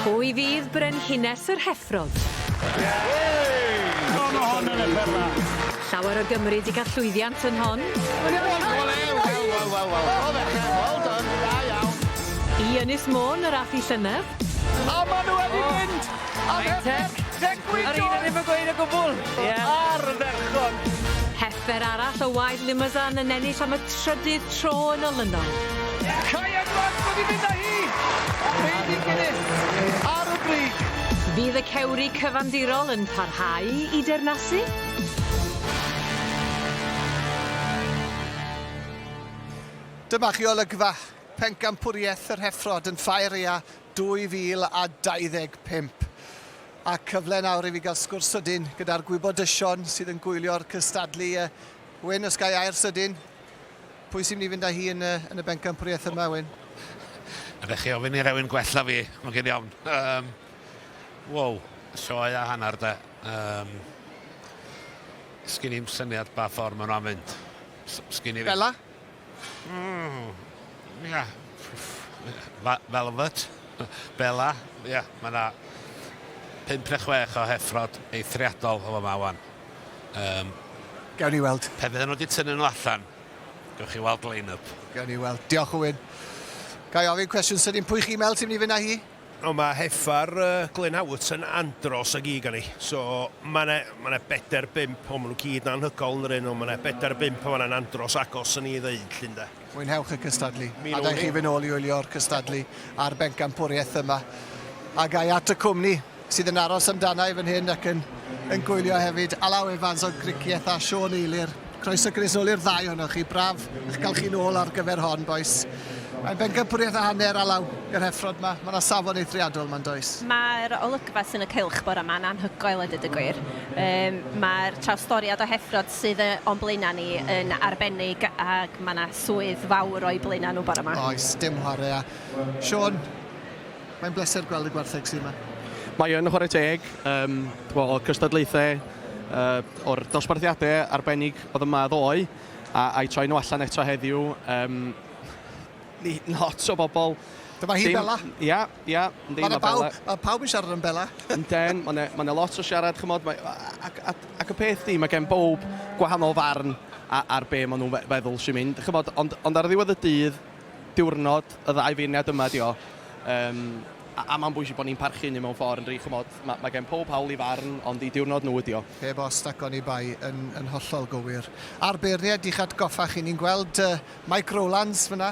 Pwy fydd Brenhines yr Heffrod? Llawer o Gymry 'di cael llwyddiant yn hon. I Ynys Môn yr ath hi llynedd. Ar y ferchog! Fer arall o waed Limousin yn ennill am y trydydd tro yn olynol. Kai Edwards wedi mynd â hi! Heiddi Guinness ar y brig! Fydd y cewri cyfandirol yn parhau i dernasu? Dyma chi olygfa Pencampwriaeth yr Heffrod yn Faeria 2025. A cyfle nawr i fi gael sgwrs sydyn gyda'r gwybodysion sydd yn gwylio'r cystadlu. Yy, Wyn, os gai air sydyn, pwy sy'n mynd i fynd â hi yn y, yn y bencampwriaeth yma, Wyn? Ydych chi ofyn i rewyn gwella fi, mae'n gyn iawn. Um, wow, sioe a hanner de. Um, Sgyn i'n syniad ba ffordd maen nhw'n mynd. Sgyn i... Bella? Mm, ia. Velvet, Bella, ia, mae yna pimp neu chwech o heffrod eithriadol o fama wan. Um, Gawn ni weld. Pe fydden nhw wedi tynnu nhw allan, gawch chi weld line-up. Gawn ni weld. Diolch, Owen. Ga i ofyn cwestiwn sydyn, pwy chi mel ti'n mynd i fynd â hi? Ond mae Heffer Glyn Howat yn andros o gig arni. So, mae yna, mae yna bedair bump, o, maen nhw gyd yn anhygoel yn yr un, ond mae yna bedair bump yn fan'na'n andros agos yn ei ddeud, 'lly ynde? Mwynhewch y cystadlu, Mi a wnawn dai'ch ni. chi fynd nôl i wylio'r cystadlu a'r bencampwriaeth yma. A ga i at y cwmni sydd yn aros amdana i fan hyn ac yn yn gwylio hefyd, Alaw Evans o Gricieth a Siôn Eilir. Croeso Chris ôl i'r ddau ohonoch chi. Braf eich cael chi'n ôl ar gyfer hon, boes. Mae'n bencampwriaeth a hanner alaw yr heffrod yma. Mae yna safon eithriadol yma'n does? Mae'r olygfa sy'n y cylch bore yma yn anhygoel a dweud y gwir. Yym, mae'r trawstoriad o heffrod sydd yy o'n blaenau ni yn arbennig ac mae yna swydd fawr o'i blaenau nhw bore yma. Oes, dim chwarae â Siôn. Mae'n bleser gweld y gwartheg sy' yma. Mae yn chwarae teg, yym, t'bo' o'r cystadlaethe, yy, o'r dosbarthiade arbennig o'dd yma ddoe, a a'i troi nhw allan eto heddiw, yym, ni- lot o bobl, Dyma hi, Bella. Dim, ia, ia, yndi, ma' Bella... Mae 'na bawb, ma' pawb yn siarad am Bella. Ynden, ma' 'na, ma' 'na lot o siarad, ch'mod, mae, a- a- ac a- ac y peth 'di, ma' gen bowb gwahanol farn a- ar be' ma' nhw'n fe- feddwl sy'n mynd, ch'mod, ond ond ar ddiwedd y dydd, diwrnod y ddau feirniad yma ydi o yym a a ma'n bwysig bo ni'n parchu hynny mewn ffor yndydi ch'mod ma' ma' gen powb hawl i farn ond i diwrnod nhw ydi o. Heb os nac oni bai, yn yn hollol gywir. A'r beirnied i'ch atgoffa chi ni'n gweld yy Mike Rowlands fynna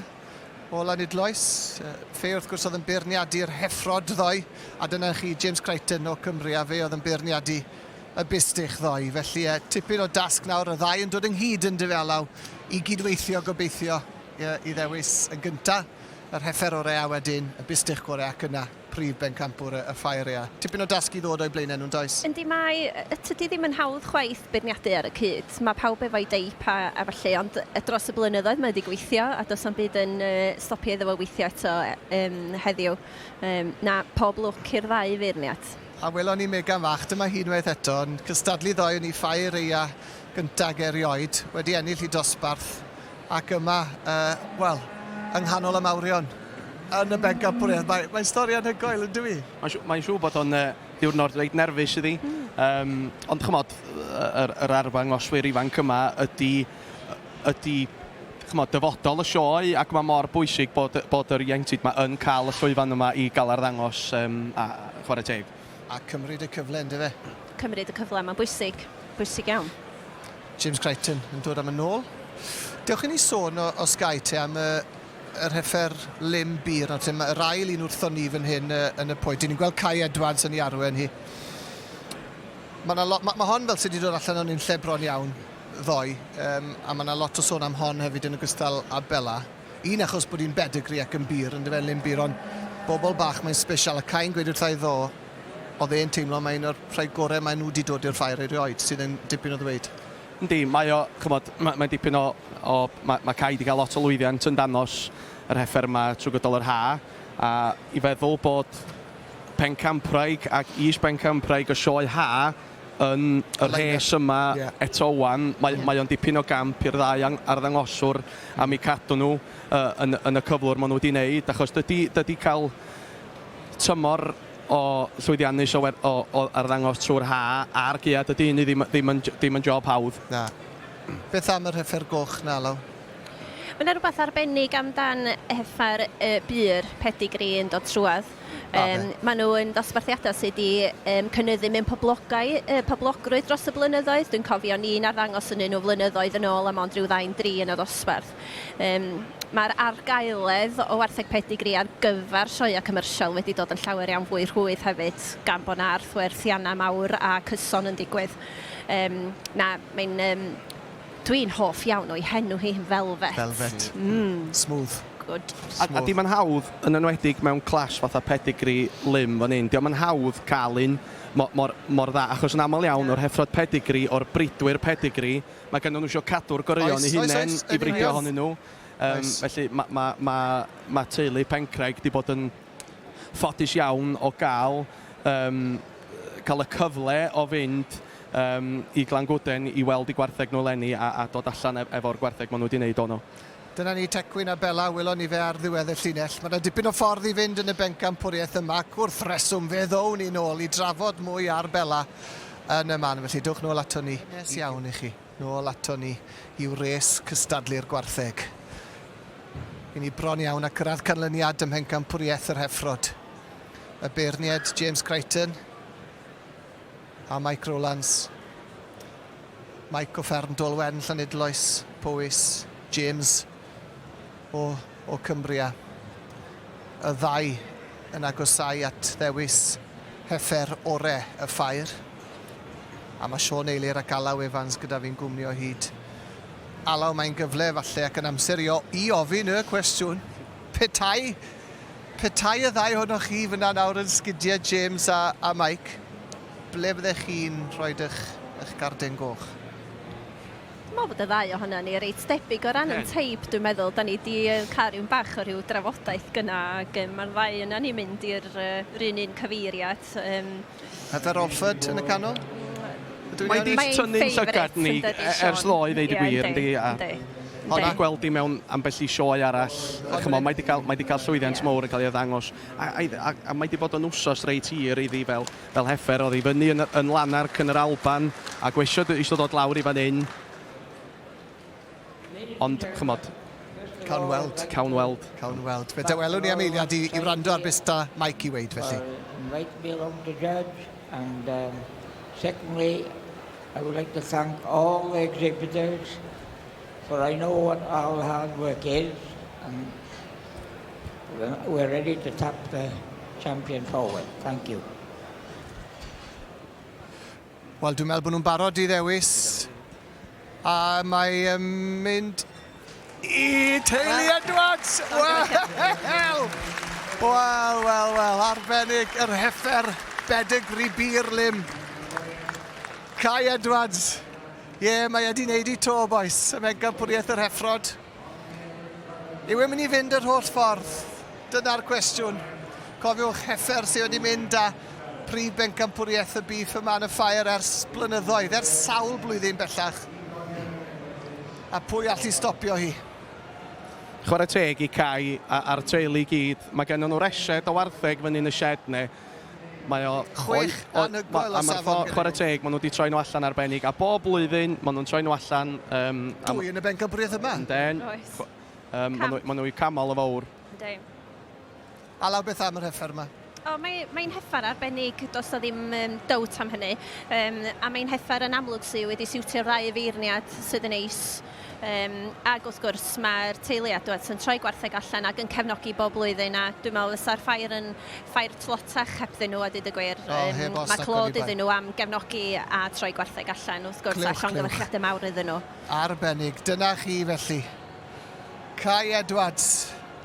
o Lanidloes yy fe wrth gwrs o'dd yn beirniadu'r Heffrod ddoe a dyna chi James Crichton o Cymru a fe o'dd yn beirniadu y Bistych ddoe felly yy tipyn o dasg nawr y ddau yn dod ynghyd yndyfe Alaw i gydweithio gobeithio. i ddewis yn gynta yr heffer ore a wedyn y bistych gore ac yna prif bencampwr y ffair ea. Tipyn o dasg i ddod o'i blaenau nhw'n does? Yndi mae, tydi ddim yn hawdd chwaith beirniadu ar y cyd, mae pawb efo'i deip a a ballu ond dros y blynyddoedd mae wedi gweithio a does na'm byd yn yy stopio iddo fo weithio eto yym heddiw yym na pob lwc i'r ddau feirniad. A welon ni Megan fach, dyma hi unwaith eto yn cystadlu ddoe yn ei ffair eia gynta ag erioed, wedi ennill ei dosbarth. Ac yma, uh, wel, yng nghanol y mawrion, yn y bencampwriaeth. Mae, mae'n stori anhygoel, yn dywi? Mae'n siw, mae siw bod o'n uh, diwrnod reit nerfus iddi. Mm. Um, ond chymod, yr, yr arfangoswyr ifanc yma ydy, ydy chymod, dyfodol y sioe ac mae mor bwysig bod, bod yr ieuenctid yma yn cael y llwyfan yma i gael arddangos um, a chwarae teg. a cymryd y cyfle yn dyfe? Cymryd y cyfle, mae'n bwysig, bwysig iawn. James Crichton yn dod am y nôl. Dewch i ni sôn o, o Sky te am y, y rhefer Lim Bir, nawr te, yr ail un wrthon ni fan hyn uh, yn y pwy. Dyn ni'n gweld Kai Edwards yn ei arwen hi. Mae ma, ma, ma hon fel sydd wedi dod allan o'n un lle bron iawn ddoe, um, a mae yna lot o sôn am hon hefyd yn ogystal â Bella. Un achos bod hi'n bedigree ac yn bur yndyfe yn Lyn Bur ond bobl bach mae'n special a cai'n gweud wrtha i ddo oedd e'n teimlo mae un o'r rhai gore mae nhw 'di dod i'r Ffair erioed sydd yn dipyn o ddweud. Yndi mae o ch'mod ma' mae'n dipyn o o ma' ma' Cai 'di cael lot o lwyddiant yn danos yr heffer yma trwy gydol yr ha' a i feddwl bod Pencampwraig ac Is Bencampwraig y Sioe Ha Yn y rhes yma, eto 'wan, mae o'n dipyn o gamp i'r ddau arddangoswr am eu cadw nhw yn y cyflwr maen nhw wedi wneud, achos dydy cael tymor o llwyddiannus o arddangos trwy'r haf a'r gaeaf, dydy hynny ddim yn job hawdd. Na. Beth am yr hyffe'r goch 'na, Alaw? Mae 'na rywbeth arbennig amdan hyffe'r bur, pedigree, yn dod trwadd. Yym, maen nhw yn ddosbarthiadau sydd wedi um, cynnyddu mewn poblogau, uh, poblogrwydd dros y blynyddoedd. Dwi'n cofio ni'n arddangos yn un o flynyddoedd yn ôl am ond rhyw ddain dri yn y ddosbarth. Um, Mae'r argaeledd o wartheg pedigri ar gyfer sioeau cymyrsiol wedi dod yn llawer iawn fwy rhwydd hefyd, gan bod yna arthwerthiannau mawr a cyson yn digwydd. Um, na, mae'n um, Dwi'n hoff iawn o'i henw hi, Velvet. Velvet. Mm. Smooth. Good. A, a 'di ma'n hawdd, yn enwedig mewn clash fatha pedigree lym fan hyn, 'di o'm yn hawdd cael un mo- mor, mor dda, achos yn aml iawn, o'r heffrod pedigree, o'r bridwyr pedigree, mae ganddo nhw isio cadw'r goreuon Oes, i oes, hunain oes, i yn bridio union. ohonyn nhw. Yym, Oes. felly ma' ma' ma' ma' teulu Pencraig 'di bod yn ffodus iawn o gael yym, cael y cyfle o fynd yym, i Glangwden i weld eu gwartheg nhw eleni a a dod allan e- efo'r gwartheg maen nhw 'di wneud o nhw. Dyna ni, Tecwyn a Bela, welon ni fe ar ddiwedd y llinell. Mae yna dipyn o ffordd i fynd yn y bencampwriaeth yma ac wrth reswm fe ddown ni nôl i drafod mwy ar Bela yn y man, felly dowch nôl ato ni. Nes iawn i chi. Nôl ato ni i'w res cystadlu'r gwartheg. I ni bron iawn a cyrraedd canlyniad ym mhencampwriaeth yr Heffrod. Y beirniaid James Crichton. A Mike Rowlands, Mike o fferm Dolwen, Llanidloes, Powys, James o, o Cumbria. Y ddau yn agosau at ddewis heffer ore y ffair. A mae Sean Eilir ac Alaw Evans gyda fi'n gwmnio hyd. Alaw, mae'n gyfle falle ac yn amser i, o, i ofyn y cwestiwn. Petai Petai y ddau ohonoch chi fan'na nawr yn sgidiau, James a, a Mike, ble byddech chi'n rhoi eich, eich garden goch? Dwi'n meddwl bod y ddau ohonan ni reit debyg o ran yn teip, dwi'n meddwl. Da ni 'di cael rhyw bach o rhyw drafodaeth gynna' ag yym ma'r ddau ohonan ni'n mynd i'r yy 'run un cyfeiriad. Yym. Heather Alford yn y canol. Mae di tynnu'n llygad ni ers ddoe, ddeud y gwir, yndi? Ond na gweld di mewn ambell i sioe arall. Chymol, mae di cael, mae di cael llwyddiant yeah. mowr yn cael ei ddangos. A, a, a, a mae di bod yn wsos reit hir iddi fel, fel hefer. Oedd i fyny yn, yn Lanarc yn yr Alban a gwesio eisiau dod lawr i fan hyn. Ond, chymod... Cawn weld. Cawn weld. Cawn weld. Fe dawelwn i am eiliad i, i wrando ar beth da Mike i weid, felly. Invite me along to judge, and um, secondly, I would like to thank all the exhibitors, for I know what all hard work is, and we're ready to tap the champion forward. Thank you. Wel, dwi'n meddwl bod nhw'n barod i ddewis A mae yn mynd i teulu Edwards! Wel! Wel, wel, wel, arbennig yr heffer bedegri bir lym. Cai Edwards. Ie, mae e di neud i to, bois. Y megapwriaeth yr heffrod. Yw e'n mynd i fynd yr holl ffordd? Dyna'r cwestiwn. Cofiwch Heffer sydd wedi mynd â prif bencampwriaeth y Beef a Man of Fire ers blynyddoedd, ers sawl blwyddyn bellach. A pwy all i stopio hi? Chwarae teg i Cai a'r teulu i gyd, mae gennon nhw reshed o wartheg fyny'n y shed ne. Mae o... Chwech anhygoel o safon gyda nhw. Chwarae teg, maen nhw wedi troi nhw allan arbennig, a bob blwyddyn maen nhw'n troi nhw allan... Um, Dwy yn y bencampwriaeth yma. Ynden. Oes. Um, maen nhw'n nhw camol o fawr. Ynddi. A law beth am yr heffer yma? O, mae, mae'n heffer arbennig, does o ddim um, dowt am hynny. Um, a mae'n heffer yn amlwg sydd wedi siwtio'r ddau feirniad sydd yn eis. Yym, ac wrth gwrs, mae'r teulu a dwed sy'n troi gwartheg allan ac yn cefnogi bob blwyddyn, a dwi'n meddwl fysa'r ffair yn ffair tlotach hebddyn nhw a deud y gwir. O, Yym, heb os mae ac clod oni bai. iddyn nhw am gefnogi a troi gwartheg allan, wrth gwrs, a Clywch, llongyfarchiadau clywch. mawr iddyn nhw. Arbennig. Dyna chi, felly. Cai Edwards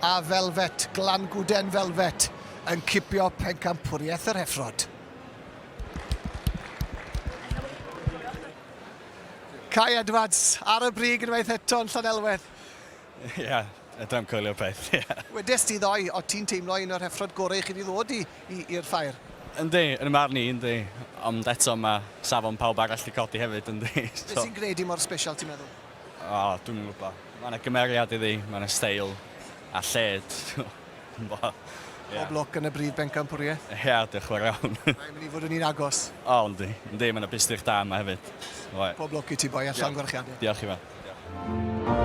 a Velvet, Glangwden Velvet, yn cipio Pencampwriaeth yr Heffrod. Cai Edwards, ar y brig unwaith eto yn Llanelwedd. Ie, yeah, ydy'n coelio peth, ie. Yeah. Wedes ti ddoe, o ti'n teimlo un o'r heffrod gorau chi wedi ddod i'r ffair? Yndi, yn y marn ni, yndi. Ond eto mae safon pawb arall wedi codi hefyd, yndi. So. Beth sy'n gwneud i mor special, ti'n meddwl? O, oh, dwi'n gwybod. Mae yna gymeriad iddi, mae yna steil a lled. Pob lwc yn y brif bencampwriaeth. Ie, diolch yn fawr iawn. Mae'n mynd i fod yn un agos. O, yndi, yndi, mae yna bystych da yma hefyd. Oe. Pob lwc i ti boi a llongyfarchiadau. Diolch Ifan. Diolch.